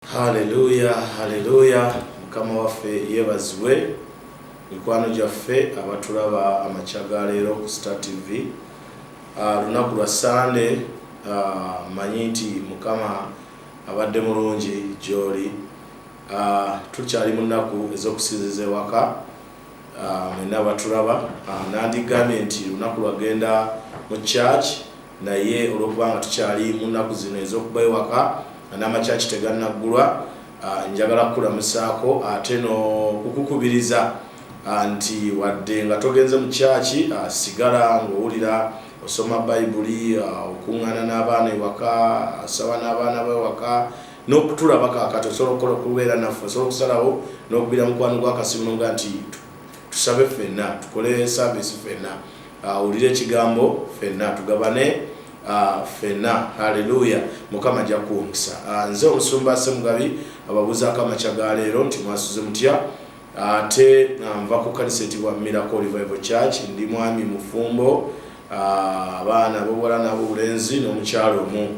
haleluya haleluya mukama waffe yebazibwe mikwano gyaffe abatulaba amakya ga leero ku star tv ah, lunaku lwa sande ah, manyi nti mukama abadde mulungi gyoli ah, tukyali mu nnaku ez'okusinziza ewaka Ah, mwena baturaba ah, nandigambye nti lunaku lwagenda mu church naye olwokuba nga tukyali mu nnaku zino ez'okuba ewaka n'amakyaki tegannaggulwa ah, njagala kukulamusaako ate n'okukukubiriza nti wadde nga togenze mu kyaki sigala ng'owulira osoma bayibuli okuŋŋaana n'abaana ewaka asaba n'abaana b'ewaka n'okutulaba kaakati osobola okukola okubeera naffe osobola okusalawo n'okubira mukwano gwa kasimu nga nti tusabe ffenna tukole saavisi ffenna awulire ah, ekigambo ffenna tugabane ah, ffenna haleluya mukama ajja kuwumisa ah, nze omusumba semugabi ababuuzaako amakya ga leero nti mwasuze mutya ate nva ku kanisa etibwa miracle revival church ndi mwami mufumbo abaana bobuwala n'abobulenzi n'omukyalo omu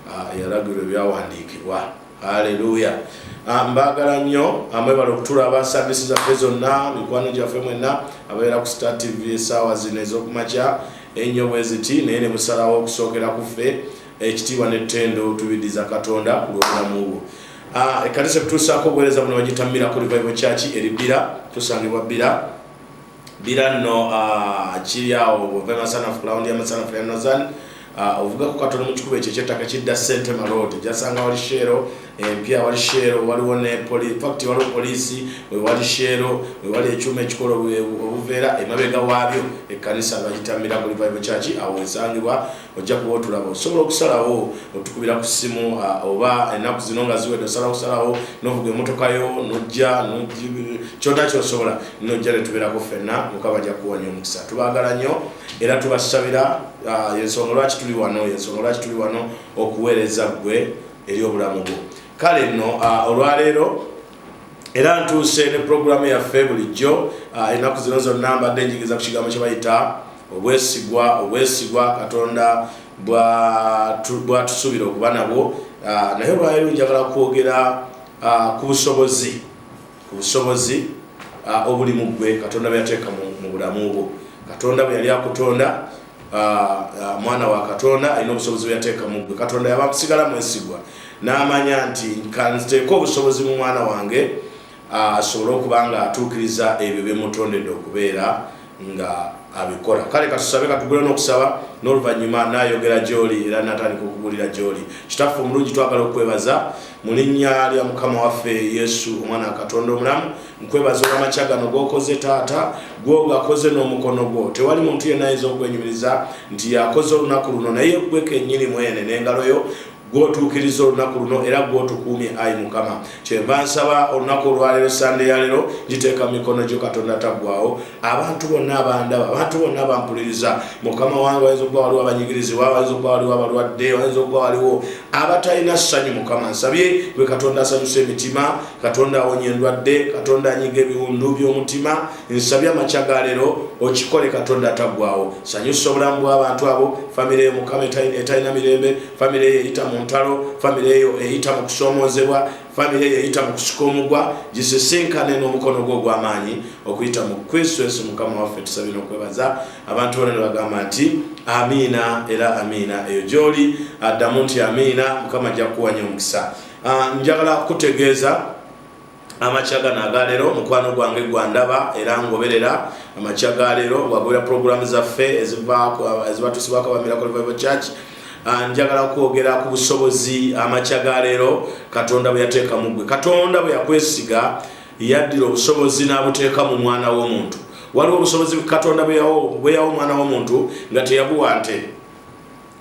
Ah, eyalagirwa ebyawandiikibwa aleluya ah, mbagala nnyo amwebala ah, okutulaba saavisi zaffe zonna mikwano gyaffe mwenna ababeera ku star tv esaawa zino ez'okumakya ennyo bwe ziti naye ne musalawo okusookera ku ffe ekitiibwa n'ettendo tubidiza katonda ku lw'obulamu bwo ekkanisa etutuusaako obuweereza buno bagitamirako livayibo kyaki eribbira tusangibwa bbira Bira no uh, kiri awo ove masanafu kulawundi ya masanafu ya nozan uh, ovuga ku katono mu kikubo ekyo ekyettaka kidda sente maloodi gyasanga wali sheero empya wali sheero waliwo ne fact waliwo poliisi wewali sheero wewali ekyuma ekikola obuveera emabega waabyo ekkanisa bayita miracle bible church awo esangibwa ojja kuba otulaba osobola okusalawo otukubira ku ssimu oba ennaku zino nga ziwedde osalawo okusalawo novuga emotoka yo nojja kyona kyosobola nojja netubeerako ffenna mukama ajja kuwa nyo omukisa tubagala nnyo era tubasabira yensonga lwaki tuli wano yensonga lwaki tuli wano okuweereza ggwe eri obulamu bwo kale nno olwaleero era ntuuse ne pulogulaamu yaffe bulijjo ah, ennaku zino zonna mbadde njigiriza ku kigambo kye bayita obwesigwa obwesigwa katonda bwatusuubira okuba nabwo ah, naye olwaliro njagala kwogera ah, ku busobozi ku busobozi obuli mu ggwe katonda bweyateeka mu bulamu bwo katonda bwe yali akutonda Ah, ah, mwana wa katonda alina obusobozi bweyateeka mu gwe katonda yaba kusigala mwesigwa n'amanya nti kanziteeka obusobozi mu mwana wange ah, asobole okuba nga atuukiriza ebyo byemutondedde okubeera nga abikola kale katusabe katugule n'okusaba n'oluvannyuma nayogera gyoli era natandika okubuulira gyoli kitaffe omulungi twagala okukwebaza mu linnya lya mukama waffe yesu omwana wa katonda omulamu nkwebaza olwamakya gano gokoze taata gwogakoze n'omukono gwo tewali muntu yenna ayinza okwenyumiriza nti yakoze olunaku luno naye gwe kenyini mwene n'engalo yo gwotuukiriza olunaku luno era gwotukuumye ayi mukama kyenva nsaba olunaku olwaleero sande yaleero ngiteeka mu mikono gyo katonda taggwawo abantu bonna abandaba abantu bonna abampuliriza mukama wange wayinza okuba waliwo abanyigirizibwa wayinza okuba waliwo abalwadde wayinza okuba waliwo abatalina ssanyu mukama nsabye gwe katonda asanyusa emitima katonda awonya endwadde katonda anyiga ebiwundu byomutima nsabye amakya galero okikole katonda atagwawo sanyusa obulamu bwabantu abo famiry eyo mukama etalina mirembe famiry eyo eyita mu ntalo famiry eyo eyita mu kusoomozebwa famiry eyo eyita mu kusika omugwa gisisinkane n'omukono gwo ogwamaanyi okuyita mu kristo yesu mukama waffe tusabye nokwebaza abantu bona nebagamba nti amiina era amiina eyo gyoli addamu nti amiina mukama ajja kukuwanya omukisa Ah, njagala kutegeeza amakya gano agaleero mukwano gwange gwandaba era ngoberera amakya galeero wagobera puroguramu zaffe ezibatusibwako ba miracle bible church ah, njagala kwogera ku busobozi amakya galeero katonda bwe yateeka mu gwe katonda bwe yakwesiga yaddira obusobozi n'abuteeka mu mwana w'omuntu waliwo obusobozi katonda bwe yawo omwana w'omuntu nga teyabuwa nte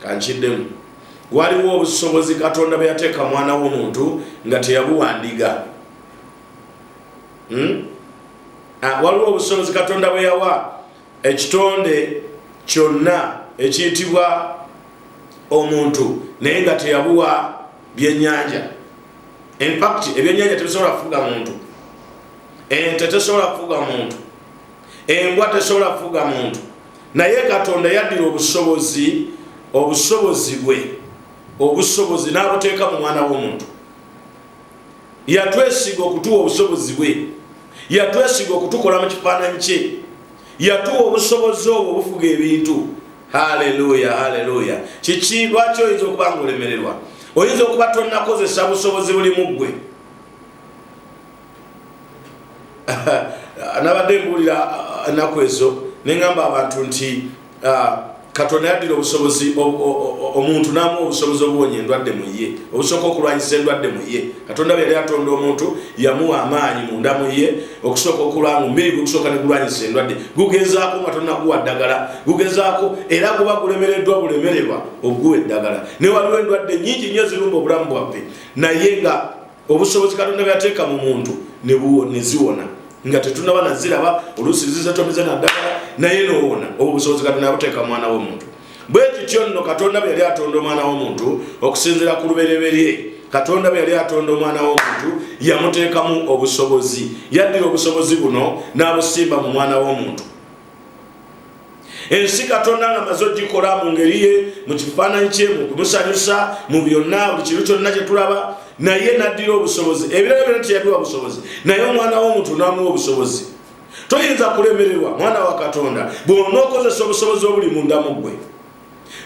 kankiddemu waliwo obusobozi katonda bwe yateeka mwana w'omuntu nga teyabuwandiga hmm? ah, waliwo obusobozi katonda bwe yawa ekitonde kyonna ekiyitibwa omuntu naye nga teyabuwa byenyanja infact ebyenyanja tebisobola kufuga muntu ente tesobola kufuga muntu embwa tesobola kufuga muntu naye katonda yaddira obusobozi obusobozi bwe obusobozi n'abuteeka mu mwana w'omuntu yatwesiga okutuwa obusobozi bwe yatwesiga okutukola mu kifaananyi kye yatuwa obusobozi obwo obufuga ebintu haleluya haleluya kiki lwaki oyinza okuba nga olemererwa oyinza okuba tonakozesa busobozi buli mu ggwe nabadde mbuulira uh, ennaku ezo neŋamba abantu nti uh, katonda yaddira obusobozi omuntu namu obusobozi obuwonya endwadde muye obusooka okulwanyisa endwadde muye katonda bwe yali atonda omuntu yamuwa amaanyi munda muye okusooka okulwanga omubiri gwekusooka negulwanyisa endwadde gugezaako nga tonaguwa ddagala gugezaako era guba gulemereddwa bulemererwa oguwa eddagala newaliwo endwadde nyingi nyo ezirumba obulamu bwaffe naye nga obusobozi katonda bweyateeka mu muntu neziwona nga tetunaba naziraba oluusi zizetomeze naddagala naye nowona obwo obusobozi katonda yabuteeka mu mwana w'omuntu bwe kityo nno katonda bwe yali atonda omwana w'omuntu okusinzira ku lubereberye katonda bwe yali atonda omwana w'omuntu yamuteekamu obusobozi yaddira obusobozi buno n'abusimba mu mwana w'omuntu ensi katonda nga maze ogikola mu ngeri ye mu kifaananyi kye mu kumusanyusa mu byonna buli kintu kyonna kye tulaba naye naddira obusobozi ebirala byona teyabiwa busobozi naye omwana w'omuntu n'amuwa obusobozi toyinza kulemererwa mwana wa katonda bw'ona okozesa obusobozi obuli mu ndamu gwe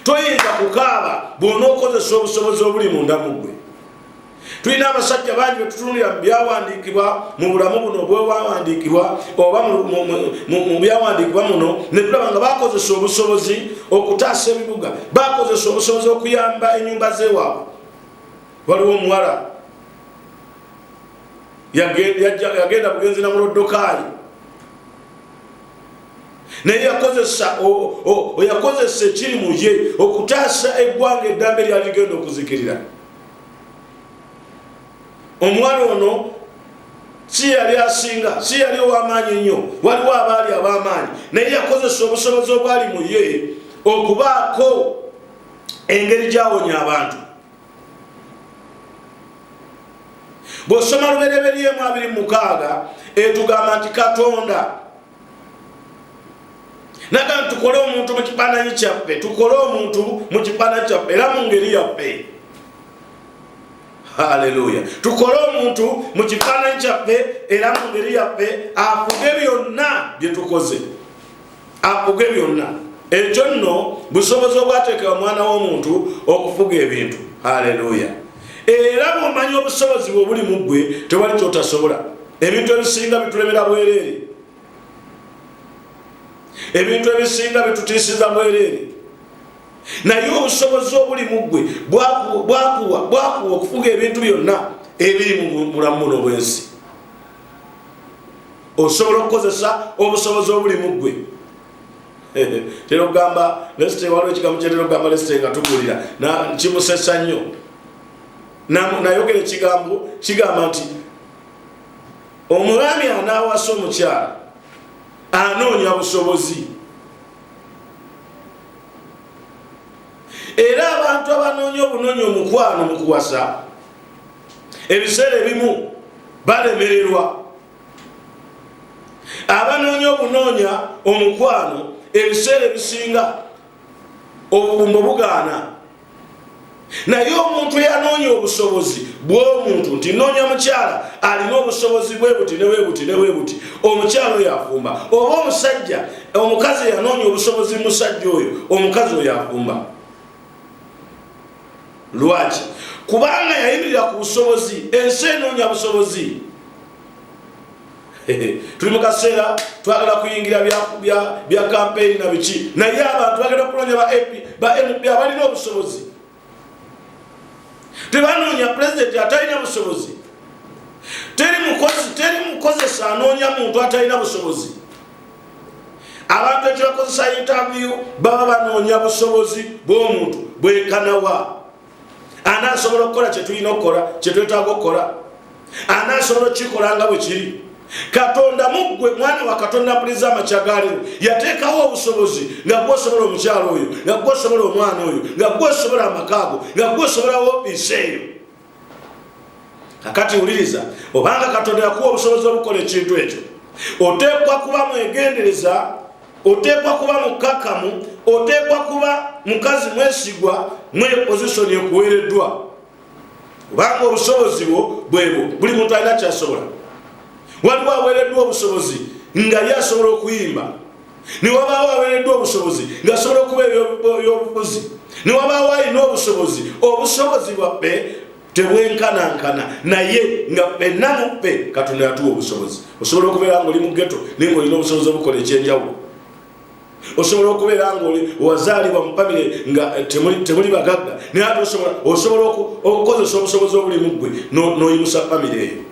toyinza kukaaba bw'ona okozesa obusobozi obuli mu ndamu gwe tulina abasajja bangi betutunulira mu byawandiikibwa mu bulamu buno obwewawandiikibwa oba mu byawandiikibwa muno netulaba nga bakozesa obusobozi okutaasa ebibuga bakozesa obusobozi okuyamba enyumba zewaabwe waliwo omuwala yagenda bugenzi na mulodokaali naye yakozesa oyakozesa ekiri muye okutaasa eggwanga eddambe lyali genda okuzikirira omuwala ono si yali asinga si yali ow'amaanyi ennyo waliwo abaali ab'amaanyi naye yakozesa obusobozi obwali mu ye okubaako engeri gyawonya abantu bw'osoma lubereberye mu abiri mukaaga etugamba nti katonda naga tukole omuntu mu kifaananyi kyaffe tukole omuntu mu kifaananyi kyaffe era mu ngeri yaffe haleluya tukole omuntu mu kifaananyi kyaffe era mu ngeri yaffe afuge byonna bye tukoze afuge byonna ekyo nno busobozi obwateeka omwana w'omuntu okufuga ebintu haleluya era bwomanya obusobozi bwe obuli mu ggwe tewali kyotasobola ebintu ebisinga bitulemera bwereere ebintu ebisinga bitutiisiza bwereere naye obusobozi obuli mu ggwe bwakuwa bwakuwa okufuga ebintu byonna ebiri mu bulamu buno bwensi osobola okukozesa obusobozi obuli mu ggwe tera okugamba lesite waliwo ekigambo kyetera okugamba lesite nga tugulira kimusesa nnyo nayogera ekigambo kigamba nti omwami anaawasa omukyala anoonya busobozi era abantu abanoonya obunoonya omukwano mu kuwasa ebiseera ebimu balemererwa abanoonya obunoonya omukwano ebiseera ebisinga obubumbo bugaana naye omuntu eyanoonya obusobozi bwomuntu nti noonya mukyala alina obusobozi bwebuti newebuti newebuti omukyala oyo afumba oba omusajja omukazi eyanoonya obusobozi musajja oyo omukazi oyo afumba lwaki kubanga yayimirira ku busobozi ensi enoonya busobozi tuli mu kaseera twagala kuyingira bya kampeyini na biki naye abantu bagenda okunoonya ba mp abalina obusobozi tebanoonya pulezidenti atalina busobozi teri mukozi teri mukozesa anoonya muntu atalina busobozi abantu ekibakozesa intaviyu baba banoonya busobozi bw'omuntu bwekanawa ani asobola okukola kyetulina okukola kyetwetaaga okukola ani asobola okukikola nga bwe kiri katonda muggwe mwana wa katonda mpuliza amakya galiwo yateekawo obusobozi nga gwosobola omukyalo oyo nga gwosobola omwana oyo nga gwosobola amakaago nga gwosobolawo ofiisi eyo kakati wuliriza obanga katonda yakuwa obusobozi obukola ekintu ekyo oteekwa kuba mwegendereza oteekwa kuba mukkakkamu oteekwa kuba mukazi mwesigwa mwe pozisoni ekuweereddwa kubanga obusobozi bwo bwebwo buli muntu alina kyasobola waliwo aweereddwa obusobozi nga ye asobola okuyimba newabaawo aweereddwa obusobozi ngasobola okuba ebyobufuzi newabaawo alina obusobozi obusobozi bwaffe tebwenkanankana naye nga fenna muffe katonda yatuwa obusobozi osobola okubeera nga oli mugeto naye ngaolina obusobozi obukola ekyenjawulo osobola okubeera nga oli wazaalibwa mu famire nga eh, temuli bagagga naye ate osobola okukozesa obusobozi obuli muggwe n'oyimusa famire eyo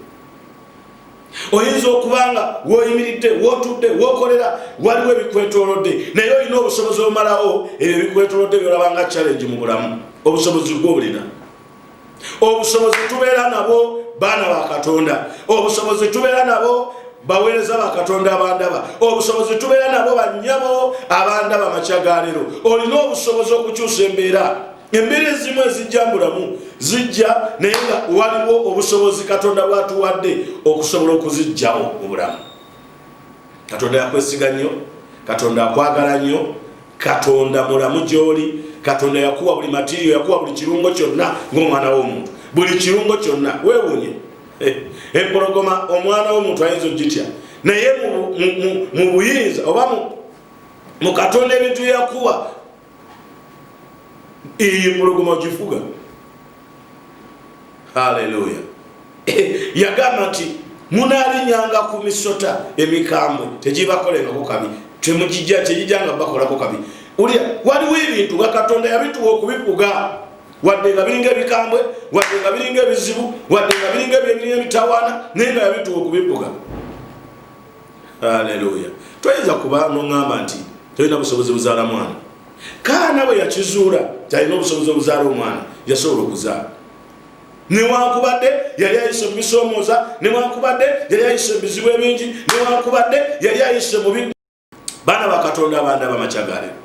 oyinza okuba nga woyimiridde wotudde wokolera waliwo ebikwetolodde naye olina obusobozi omalawo ebyo ebikwetolodde byolaba nga challenge mu bulamu obusobozi gwobulina obusobozi tubeera nabo baana ba katonda obusobozi tubeera nabo baweereza bakatonda abandaba obusobozi tubeera nabo banyabo abandaba makya galero olina obusobozi okukyusa embeera embeera ezimu ezijja mubulamu zijja naye nga waliwo obusobozi katonda bwatuwadde okusobola okuzijjawo mubulamu katonda yakwesiga nnyo katonda akwagala nnyo katonda mulamu gyoli katonda yakuwa buli matirio yakuwa buli kirungo kyonna ngaomwana womuntu buli kirungo kyonna wewunye eh, empologoma omwana womuntu ayinza ogitya naye mu buyinza oba mu katonda ebintu yakuwa Eyo empologoma ogifuga. Haleluya! Yagamba nti munaalinyanga ku misota emikambwe, tegibakolerako kabi, temugijja tegijanga bakolako kabi. Ulya waliwo ebintu nga Katonda yabituwa okubifuga wadde nga biringa ebikambwe, wadde nga biringa ebizibu, wadde nga biringa ebyebirina emitawaana, naye nga yabituwa okubifuga. aleluya toyinza kuba noŋamba nti tolina busobozi buzaala mwana kaana bwe yakizuula talina obusobozi obuzaala omwana yasobola okuzaala newankubadde yali ayise mubisoomooza newankubadde yali ayise ebizibu ebingi newankubadde yali ayise mubi baana bakatonda abanda bamakyagalero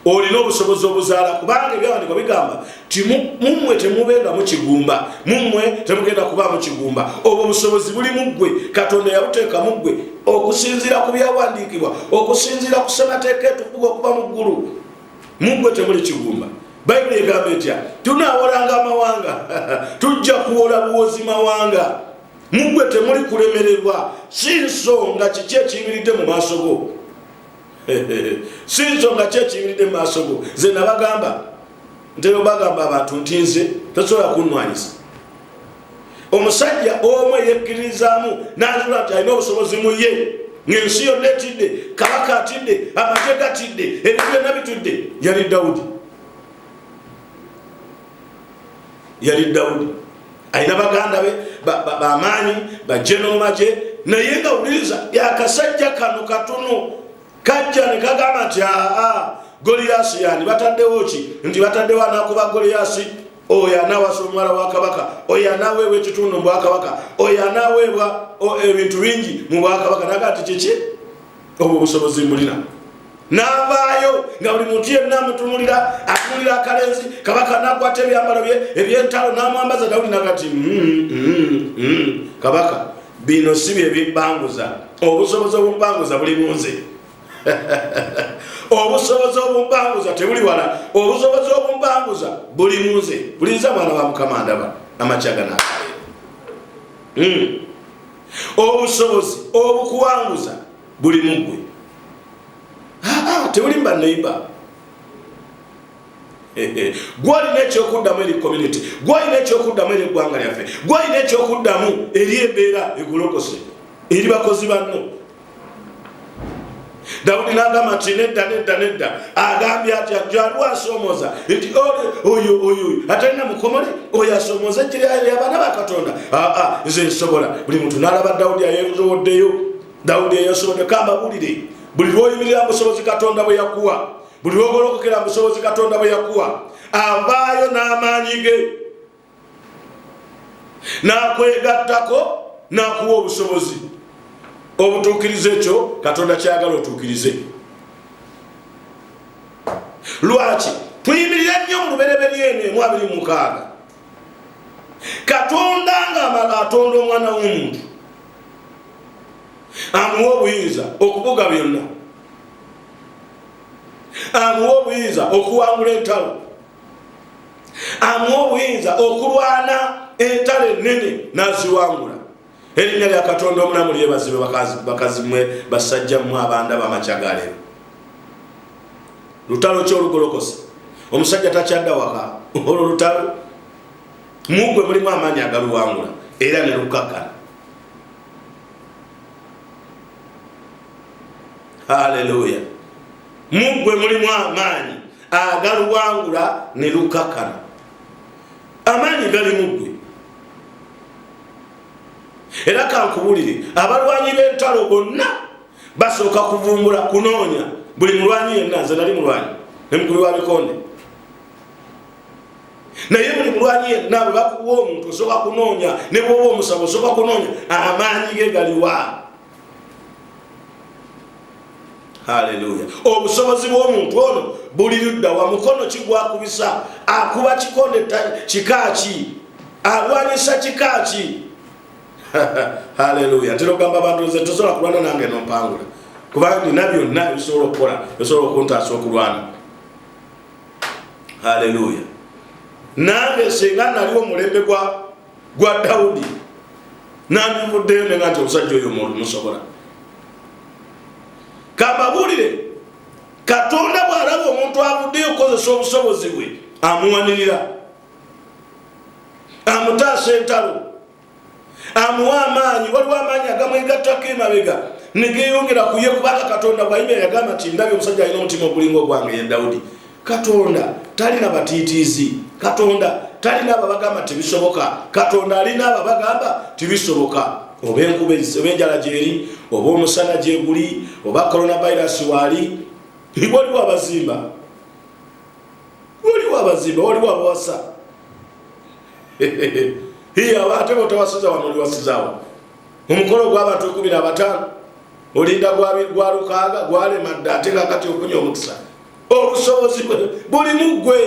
olina obusobozi obuzaala kubanga ebyawandikwa bigamba ti mumwe temubeera mukigumba mumwe temugenda kuba mukigumba obwo obusobozi buli muggwe katonda yabuteeka muggwe okusinziira ku byawandiikibwa okusinziira ku semateeka etukuga okuba mu ggulu muggwe temuli kigumba bayibuli egamba etya tunaawolanga amawanga tujja kuwola buwozi mawanga muggwe temuli kulemererwa si nsonga kiki ekiyimiridde mu maaso go si nsonga ki ekiyimiridde mu maaso go ze nabagamba ntero bagamba abantu nti nze tasobola kunwanyisa omusajja omu eyekkiririzaamu nazula nti alina obusobozi mu ye ngaensi yonna etidde kabaka atidde amagye gatidde ebintu byonna bitudde yali dawudi yali dawudi alina baganda be bamaanyi bajeno mumagye naye nga wuliriza yakasajja kano katono kajja ne kagamba nti aa goliyasi yani bataddewo ki nti bataddewo anakuba goliyasi oyo anawasa omuwala wa kabaka oyo anaweebwa ekitundu mu bwakabaka oyo anaweebwa ebintu bingi mu bwakabaka naga ti kiki obwo obusobozi mbulina navaayo nga buli muntu yenna amutunulira atunulira akalenzi kabaka nakwata ebyambalo bye ebyentalo namwambaza dawudi nagati mm, mm, mm, kabaka bino si byebimpanguza obusobozi obumpanguza buli munze obusobozi obumpanguza tebuli wala obusobozi obumpanguza buli munze bulinza mwana wa mukama ndaba amakyaga nakae obusobozi obukuwanguza buli mugwe tebuli mba neiba gwolina ekyokuddamu eri community gwolina ekyokuddamu eri eggwanga lyaffe gwolina ekyokuddamu eri embeera egolokose eri bakozi banno dawudi nagamba nti nedda nedda nedda agambye ati ajaliwo asoomoza nti oyo oyo atalina mukomole oyo asoomoza ekiryabaana bakatonda aa nze nsobola buli muntu nalaba dawudi ayezowoddeyo dawudi eyasobodde kambabulire buli lwoyimirira musobozi katonda bwe yakuwa buli lwogolokokera musobozi katonda bwe yakuwa avaayo n'amaanyi ge n'akwegattako n'akuwa obusobozi obutuukiriza ekyo katonda kyayagala otuukirize lwaki tuyimirira nnyo mu lubereberye eno emu abiri mukaaga katonda ngaamala atonda omwana w'omuntu amuwa obuyinza okubuga byonna amuwa obuyinza okuwangula entalo amuwa obuyinza okulwana entalo ennene naziwangula erinnya lya katonda omulamu lyebazibe bakazimwe basajjammu abanda bamacagalero lutalo ki olugolokosa omusajja takyadda waka olwo lutalo mugwe mulimu amaanyi agaluwangula era ne lukakkana haleluya muggwe mulimu amaanyi agaluwangula ne lukakana amaanyi gali muggwe era kankubulire abalwanyi b'entalo bonna basooka kuvumbula kunoonya buli mulwanyi yenna nze nali mulwanyi nemukulu wa bikonde naye buli mulwanyi yenna bwe bakuwa omuntu osooka kunoonya ne bwoba omusaba osooka kunoonya amaanyi ge galiwa haleluya obusobozi bw'omuntu ono buli ludda wa mukono kigwakubisa akuba kikonde kikaaki alwanyisa kikaaki haleluya tera ogamba abantu nze tosobola kulwana nange nompangula kubanga nina byonna bisobola okukola bisobola okuntaasa okulwana haleluya nange singa naliwo omulembe gwa gwa dawudi nandivuddeyo nenga nti omusajja oyo musobola kambabuulire katonda bw'alaba omuntu avuddeyo okukozesa obusobozi bwe amuwanirira amutaasa entalo amuwa amaanyi waliwo amaanyi agamwegattako emabega negeyongera kuye kubanga katonda bwayimira yagamba nti ndabye omusajja alina omutima ogulinga ogwange ye dawudi katonda talina batiitiizi katonda talina ababagamba tibisoboka katonda alina ababagamba tibisoboka oba enkuba oba enjala gyeri oba omusana gyeguli oba coronavirus waali waliwo abazimba waliwo abazimba waliwo abawasa iye aba ate botawasiza wano oliwasizawo omukolo gwabantu ekumi na bataano olinda gwa lukaaga gwalema dda ate kakati okunya omukisa obusobozi bwe buli mu ggwe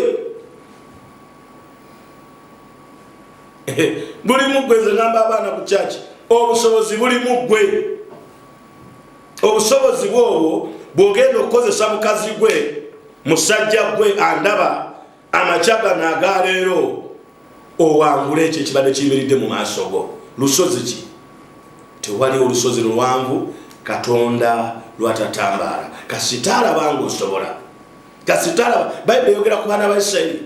buli mu ggwe nze ngamba abaana ku kyaki obusobozi buli mu ggwe obusobozi bwobwo bwogenda okukozesa mukazi gwe musajja gwe andaba amakya gano agaleero owangula ekyo ekibadde kiyimiridde mu maaso go lusozi ki tewali olusozi luwanvu katonda lwatatambaala kasita alaba nga osobola kasita alaba bayibuli eyogera ku baana ba isirairi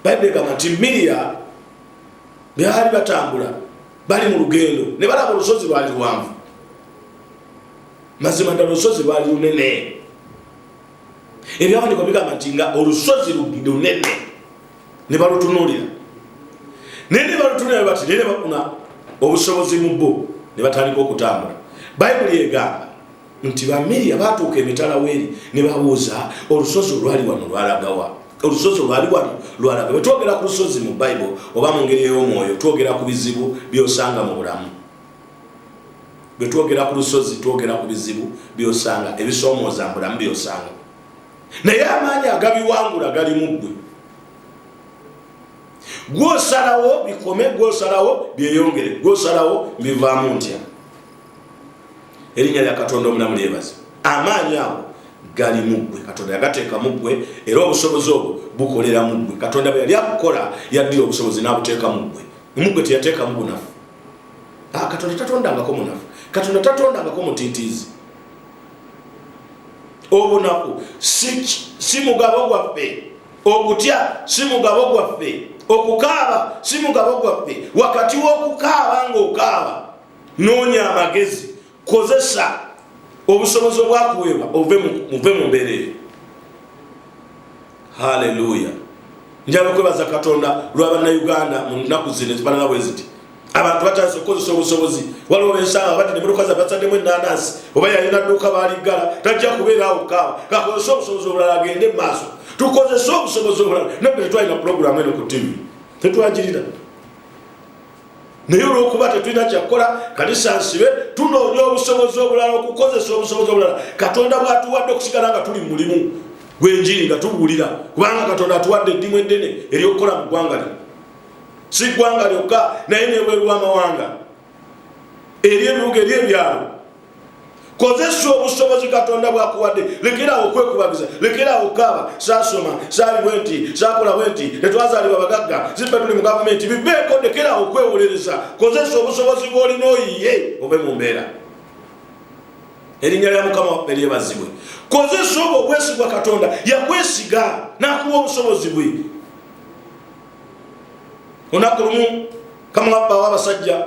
bayibuli egamba nti miriya byali batambula bali mu lugendo ne balaba olusozi lwali luwanvu mazima ddala olusozi lwali lunene ebyawandiikwa bigamba nti nga olusozi lunene ne balutunuulira naye ne balutunuulira ne bati naye ne bafuna obusobozi mu bo ne batandika okutambula bayibuli egamba nti bamiriya baatuuka emitala weeri ne babuuza olusozi olwali wano lwalagawa olusozi olwali wano lwalaga bwe twogera ku lusozi mu bayibuli oba mu ngeri ey'omwoyo twogera ku bizibu by'osanga mu bulamu bwe twogera ku lusozi twogera ku bizibu byosanga ebisoomooza mbulamu byosanga naye amaanyi agabiwangula gali mu ggwe gwosalawo bikome gwosalawo byeyongere gwosalawo mbivaamu ntya erinnya lya katonda omulamu lyebaza amaanyi ago gali muggwe katonda yagateeka muggwe era obusobozi obwo bukolera muggwe katonda bwe yali akukola yaddira obusobozi n'abuteeka muggwe muggwe teyateekamu bunafu Ah, katonda tatondangako munafu katonda tatondangako mutitiizi obunaku si mugabo gwaffe okutya si mugabo gwaffe okukaaba si mugabo gwaffe wakati w'okukaaba ng'okaaba noonya amagezi kozesa obusobozi obwakuweebwa ove muve mu mbeera eyo haleluya njala okwebaza katonda lwa bannayuganda mu nnaku zino ezifanana bwe ziti abantu batandise okukozesa obusobozi waliwo bensanga bati nemotoka za basaddemu enanasi oba yalina dduuka baaliggala tajja kubeeraawo kaawa kakozese obusobozi obulala agende mu maaso tukozese obusobozi obulala nabbe tetwalina pulogulamu eno ku tivi tetwagirira naye olwokuba tetulina kyakukola kanisa nsibe tunoonya obusobozi obulala okukozesa obusobozi obulala katonda bwatuwadde okusigala nga tuli mulimu gwenjiri nga tubuulira kubanga katonda atuwadde eddimu eddene eryokukola mu ggwanga lino si ggwanga lyokka naye nebwerwamawanga eri ebibuga eri ebyalo kozesa obusobozi katonda bwakuwadde lekeraawo okwekubagiza lekeraawo okaaba saasoma saali bwe nti saakola bwe nti tetwazaalibwa bagagga zibba tuli mu gavumenti bibeeko lekeraawo okwewolereza kozesa obusobozi bwolina oyiye obe mu mbeera erinnya lya mukama waffe lyebazibwe kozesa obwo obwesigwa katonda yakwesiga n'akuwa obusobozi bwe olunaku lumu kamwabbawo abasajja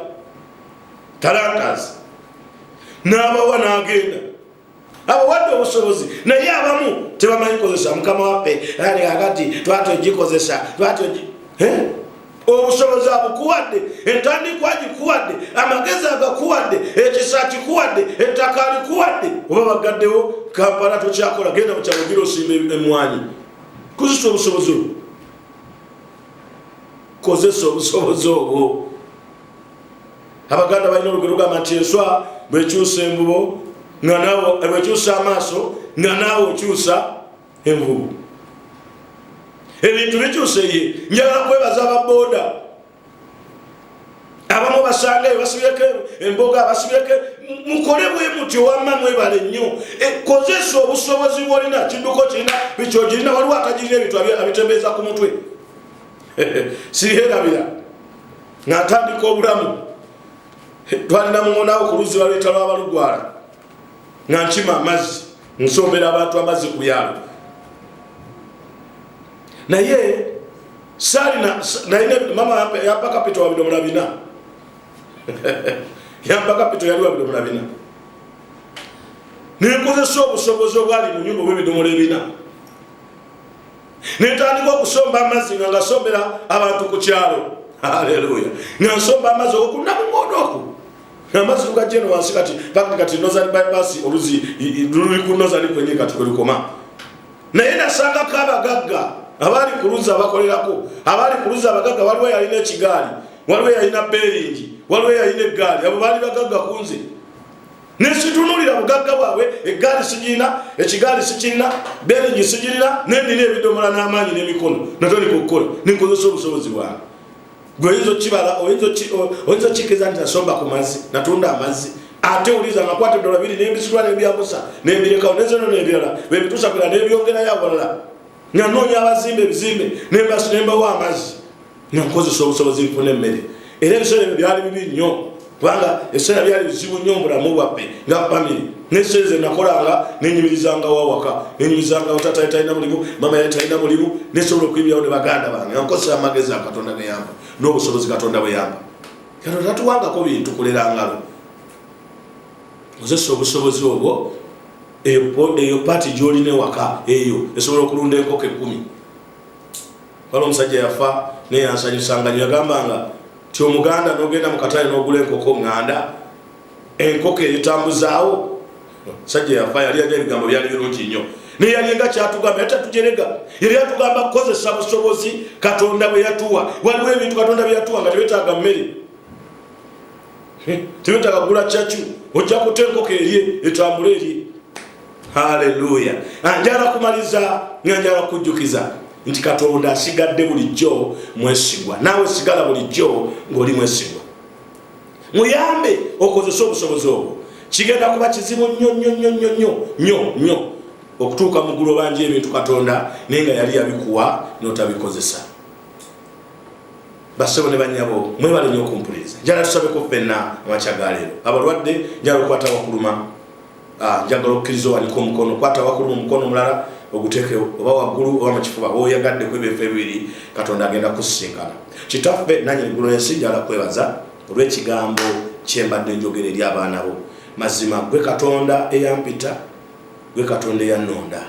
talantas n'abawa n'agenda abawadde obusobozi naye abamu tebamanyi kozesa mukama waffe ali kakati twati ogikozesa twati obusobozi abukuwadde entandikwa gikuwadde amagezi agakuwadde ekisa kikuwadde ettaka likuwadde oba bagaddewo kampala tokyakola genda mukyalugira osimba emwanyi kozesa obusobozi obwo kozesa obusobozi obwo abaganda balina olugero lugamba nti enswa bwekyusa envubo nga nawo bwekyusa amaaso nga naawe okyusa envubu ebintu bikyuse ye njagala kwebaza ababoda abamu basangayo basibyeko emboga abasibyeko mukole bwe mutyo wamma mwebale nnyo e, kozesa obusobozi bwolina kidduko kirina bikyogirina waliwo atagirina ebintu abitembeeza ku mutwe siherabira natandika obulamu twalina muwonawo ku luzzi baluyita lwabalugwala nga nkima amazzi nsombera abantu amazzi ku byalo naye salina naye mama yampa kapito wabidomola bina yampa kapito yali wabidomola bina nenkozesa obusobozi obwali mu nyumba obwebidomola ebina netandika okusomba amazzi nga ngasombera abantu ku kyalo aleluya nga nsomba amazzi okunamumodo oku amazzi lugajeno wansi kati pakti kati nozani bypass oluzi luli ku nozani kwenye kati kwelikoma naye nasangako abagagga abaali ku luzzi abakolerako abaali ku luzzi abagagga waliwo yalina ekigaali waliwo yalina beringi waliwo yalina eggaali abo baali bagagga kunze nesitunulira bugagga bwabwe eggaali sigirina ekigaali sikirina beringi sigirina nenina ebidomola n'amaanyi n'emikono natandika okukola nenkozesa obusobozi bwange gweoyinza okibala oyinza okikiriza nti nasomba ku mazzi natunda amazzi ate uliza nakwata edola biri nebisula nebyamusa nebirekawo nezeno nebirala bebitusa kula nebyongerayo awalala nanoonya abazimba ebizimbe nembawa amazzi ne nkozesa obusobozi nfuna emmere era ebiseera ebyo byali bibi nnyo kubanga ebiseera byali bizibu nnyo mubulamu bwaffe nga famiri neseera ze nakolanga nenyumirizangawo awaka nenyumirizangawo tata yali talina mulimu mama yali talina mulimu nesobola okuyimirirawo ne baganda bange ankozesa amagezi a katonda geyamba n'obusobozi katonda bweyamba katonda tatuwangako bintu kulera ngalo ozesa obusobozi obwo eyo paati gyolina ewaka eyo esobola okulunda enkoko ekumi wala omusajja yafa naye yansanyusanganyo yagambanga ti omuganda nogenda mukatale nogula enkoko nganda enkoko eyitambuzaawo sajja yafa yali yali ebigambo byali birungi nnyo naye yali nga kyatugamba yali tatujerega yali yatugamba kukozesa busobozi katonda bwe yatuwa waliwo ebintu katonda bye yatuwa nga tebetaaga mmere tewetaaga kugula cacu ojja kuta enkoko erye etambula erye haleluya ah, njala kumaliza nga njala kujjukiza nti katonda asigadde bulijjo mwesigwa naawe sigala bulijjo ng'oli mwesigwa muyambe okozese obusobozi obwo kigenda kuba kizibu nnyo nnyo nnyo nnyo nnyo nnyo nnyo okutuuka mu ggulu obanja ebintu katonda naye nga yali yabikuwa n'otabikozesa Bassebo ne bannyabo mwebale nnyo okumpuliriza. Njala tusabeko ffenna amakya ga leero. Abalwadde njala okwata wakuluma. Ah, njagala okukkiriza owanike omukono kwata wakuluma omukono omulala oguteeke oba waggulu oba mu kifuba oyagadde ku ebyo efe ebibiri katonda agenda kusisinkana. Kitaffe nanyi eggulu ensi njala kwebaza olw'ekigambo kyembadde njogera eri abaana bo. Mazima gwe Katonda eyampita, gwe Katonda eyannonda.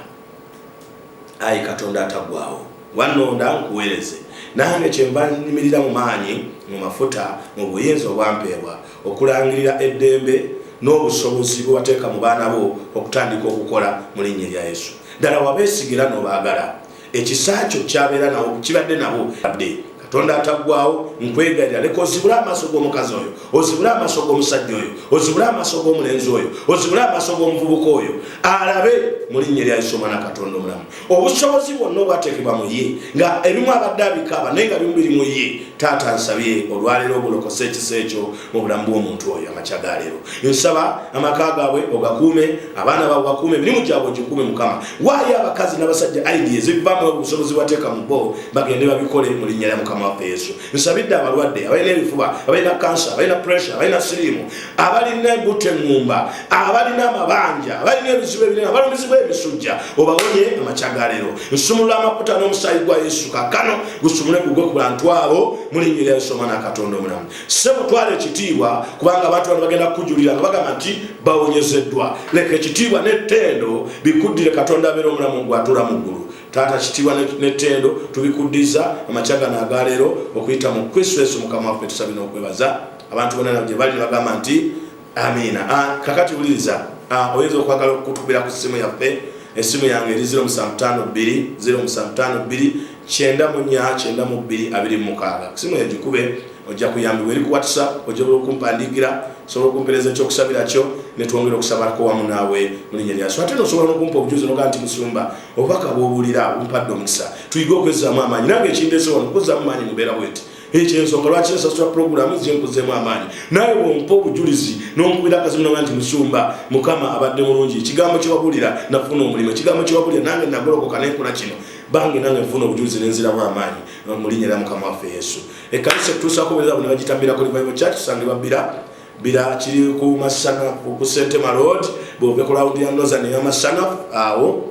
ayi katonda atagwawo wannonda nkuweereze nange kyenva nnimirira mu maanyi mu mafuta mu buyinza obwampeebwa okulangirira eddembe n'obusobozi bwewateeka mu baana bo okutandika okukola mu linnya erya yesu ddala wabeesigira nobaagala ekisa kyo kyabeera nawo kibadde nabo adde katonda ataggwawo nkwegalira leka ozibule amaaso g'omukazi oyo ozibule amaaso g'omusajja oyo ozibule amaaso g'omulenzi oyo ozibule amaaso g'omuvubuka oyo alabe mu linnya erya yesu omwana katonda omulamu obusobozi bwonna obwateekebwa mu ye nga ebimu abadde abikaaba naye nga bimu biri mu ye taata nsabye olwaleero obulokose ekisa ekyo mu bulamu bw'omuntu oyo amakya ga leero nsaba amaka gaabwe ogakuume abaana baabwe bakuume emirimu gyabwe ogikuume mukama waayo abakazi n'abasajja aidi ezivaamu obusobozi wateeka mu bo bagende babikole mu linnya lya mukama waffe yesu nsabidde abalwadde abalina ebifuba abalina kansa abalina puresure abalina siriimu abalina embuto eŋŋumba abalina amabanja abalina ebizibu ebinene abalumizibwa emisujja obawonye amakya ga leero nsumulula amakuta n'omusaayi gwa yesu kakano gusumule gugwe ku bantu abo mu linnya lya yesu omwana katonda omulamu Ssebo twala ekitiibwa kubanga abantu bano bagenda kukujulira nga bagamba nti bawonyezeddwa. Leka ekitiibwa n'ettendo bikuddire Katonda abeera omulamu gwe atuula mu ggulu. Taata kitiibwa n'ettendo tubikuddiza amakya gano aga leero okuyita mu Kristo Yesu Mukama waffe tusabye n'okwebaza. Abantu bonna nabo gye bali ne bagamba nti. amiina ah, kakati wuliriza ah, oyinza okwagala okutukubira ku ssimu yaffe essimu yange eri 0752 kyenda munya kyenda mu bbiri abiri mumukaaga kusimu yagikube ojja kuyambibwa eri ku whatsapp ojja bula okumpandiikira osobola okumpereza ekyokusabira kyo netwongera okusabalako wamu naawe mulinya lyaso ate nosobola nokumpa obujuzi noga nti musumba obubaka bwobuulira bumpadde omukisa tuyige okwezzaamu amaanyi nange ekindezewa nokuzzaamu maanyi mubeera bweti ekyo ensonga lwaki nsasula pulogulaamu zinkuzeemu amaanyi naye wompa obujulizi nonkubira akazimu naga nti musumba mukama abadde mulungi ekigambo kyewabulira nafuna omulimu ekigambo kyewabulira nange nagolokoka nenkola kino bange nange nfuna obujulizi nenziramu amaanyi mulinya era mukama waffe yesu ekanisa etutuusako bweza bwe nebagitambira ku revival church sange babbira bira kiri ku masana ku sentema road bwove ku lawudi ya nozan eyamasana awo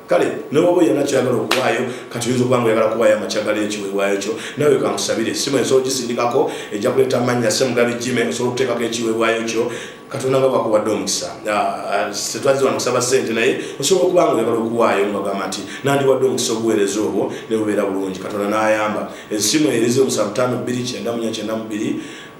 kale newaba oyina kyagala okuwaayo kati oyinza okuba nga oyagala kuwaayo amakyagala ekiweebwayo kyo nawe kankusabire simu ensobola ogisindikako ejja kuleeta amannya semugabi jime osobola okuteekako ekiweebwayo kyo katonda nga bakuwadde omukisa tetwazze wano kusaba sente naye osobola okuba nga oyagala okuwaayo ngagamba nti nandiwadde omukisa obuweereza obwo nebubeera bulungi katonda n'ayamba esimu erize omusa butaano bbiri kyenda munya kyenda mubiri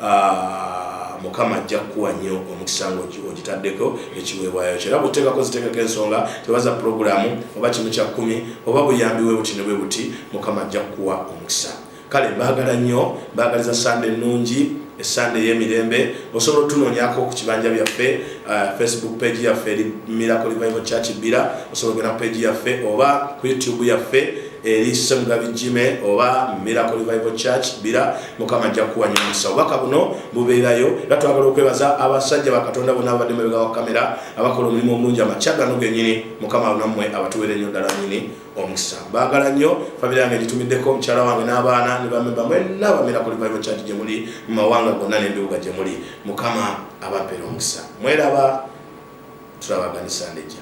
Ah, mukama ajja kukuwa nnyo omukisa nga ogitaddeko ekiweebwayo kyo era kuteekako ziteekako ensonga tebaza pulogulaamu oba kimu kya kkumi oba buyambi we buti ne bwe buti mukama ajja kukuwa omukisa kale mbaagala nnyo mbaagaliza sande ennungi esande eyemirembe osobola otunonyako ku kibanja byaffe uh, facebook page yaffe eri miracle revival church bbira osobola ogenda ku page yaffe oba ku youtube yaffe eri semugabi jime oba miracle revival church bbira mukama ajja kukuwanya omukisa obubaka buno bubeerayo era twagala okwebaza abasajja bakatonda bona ababadde mabega wa kamera abakola omulimu omulungi amakya gano genyini mukama abunammwe abatuweera ennyo ddala nyini omukisa baagala nnyo famire yange gitumiddeko omukyala wange n'abaana ne bamemba mwenna bamera kuli bible church gye muli mu mawanga gonna n'ebibuga gye muli mukama abapeera omukisa mweraba tulabaganisa ndejja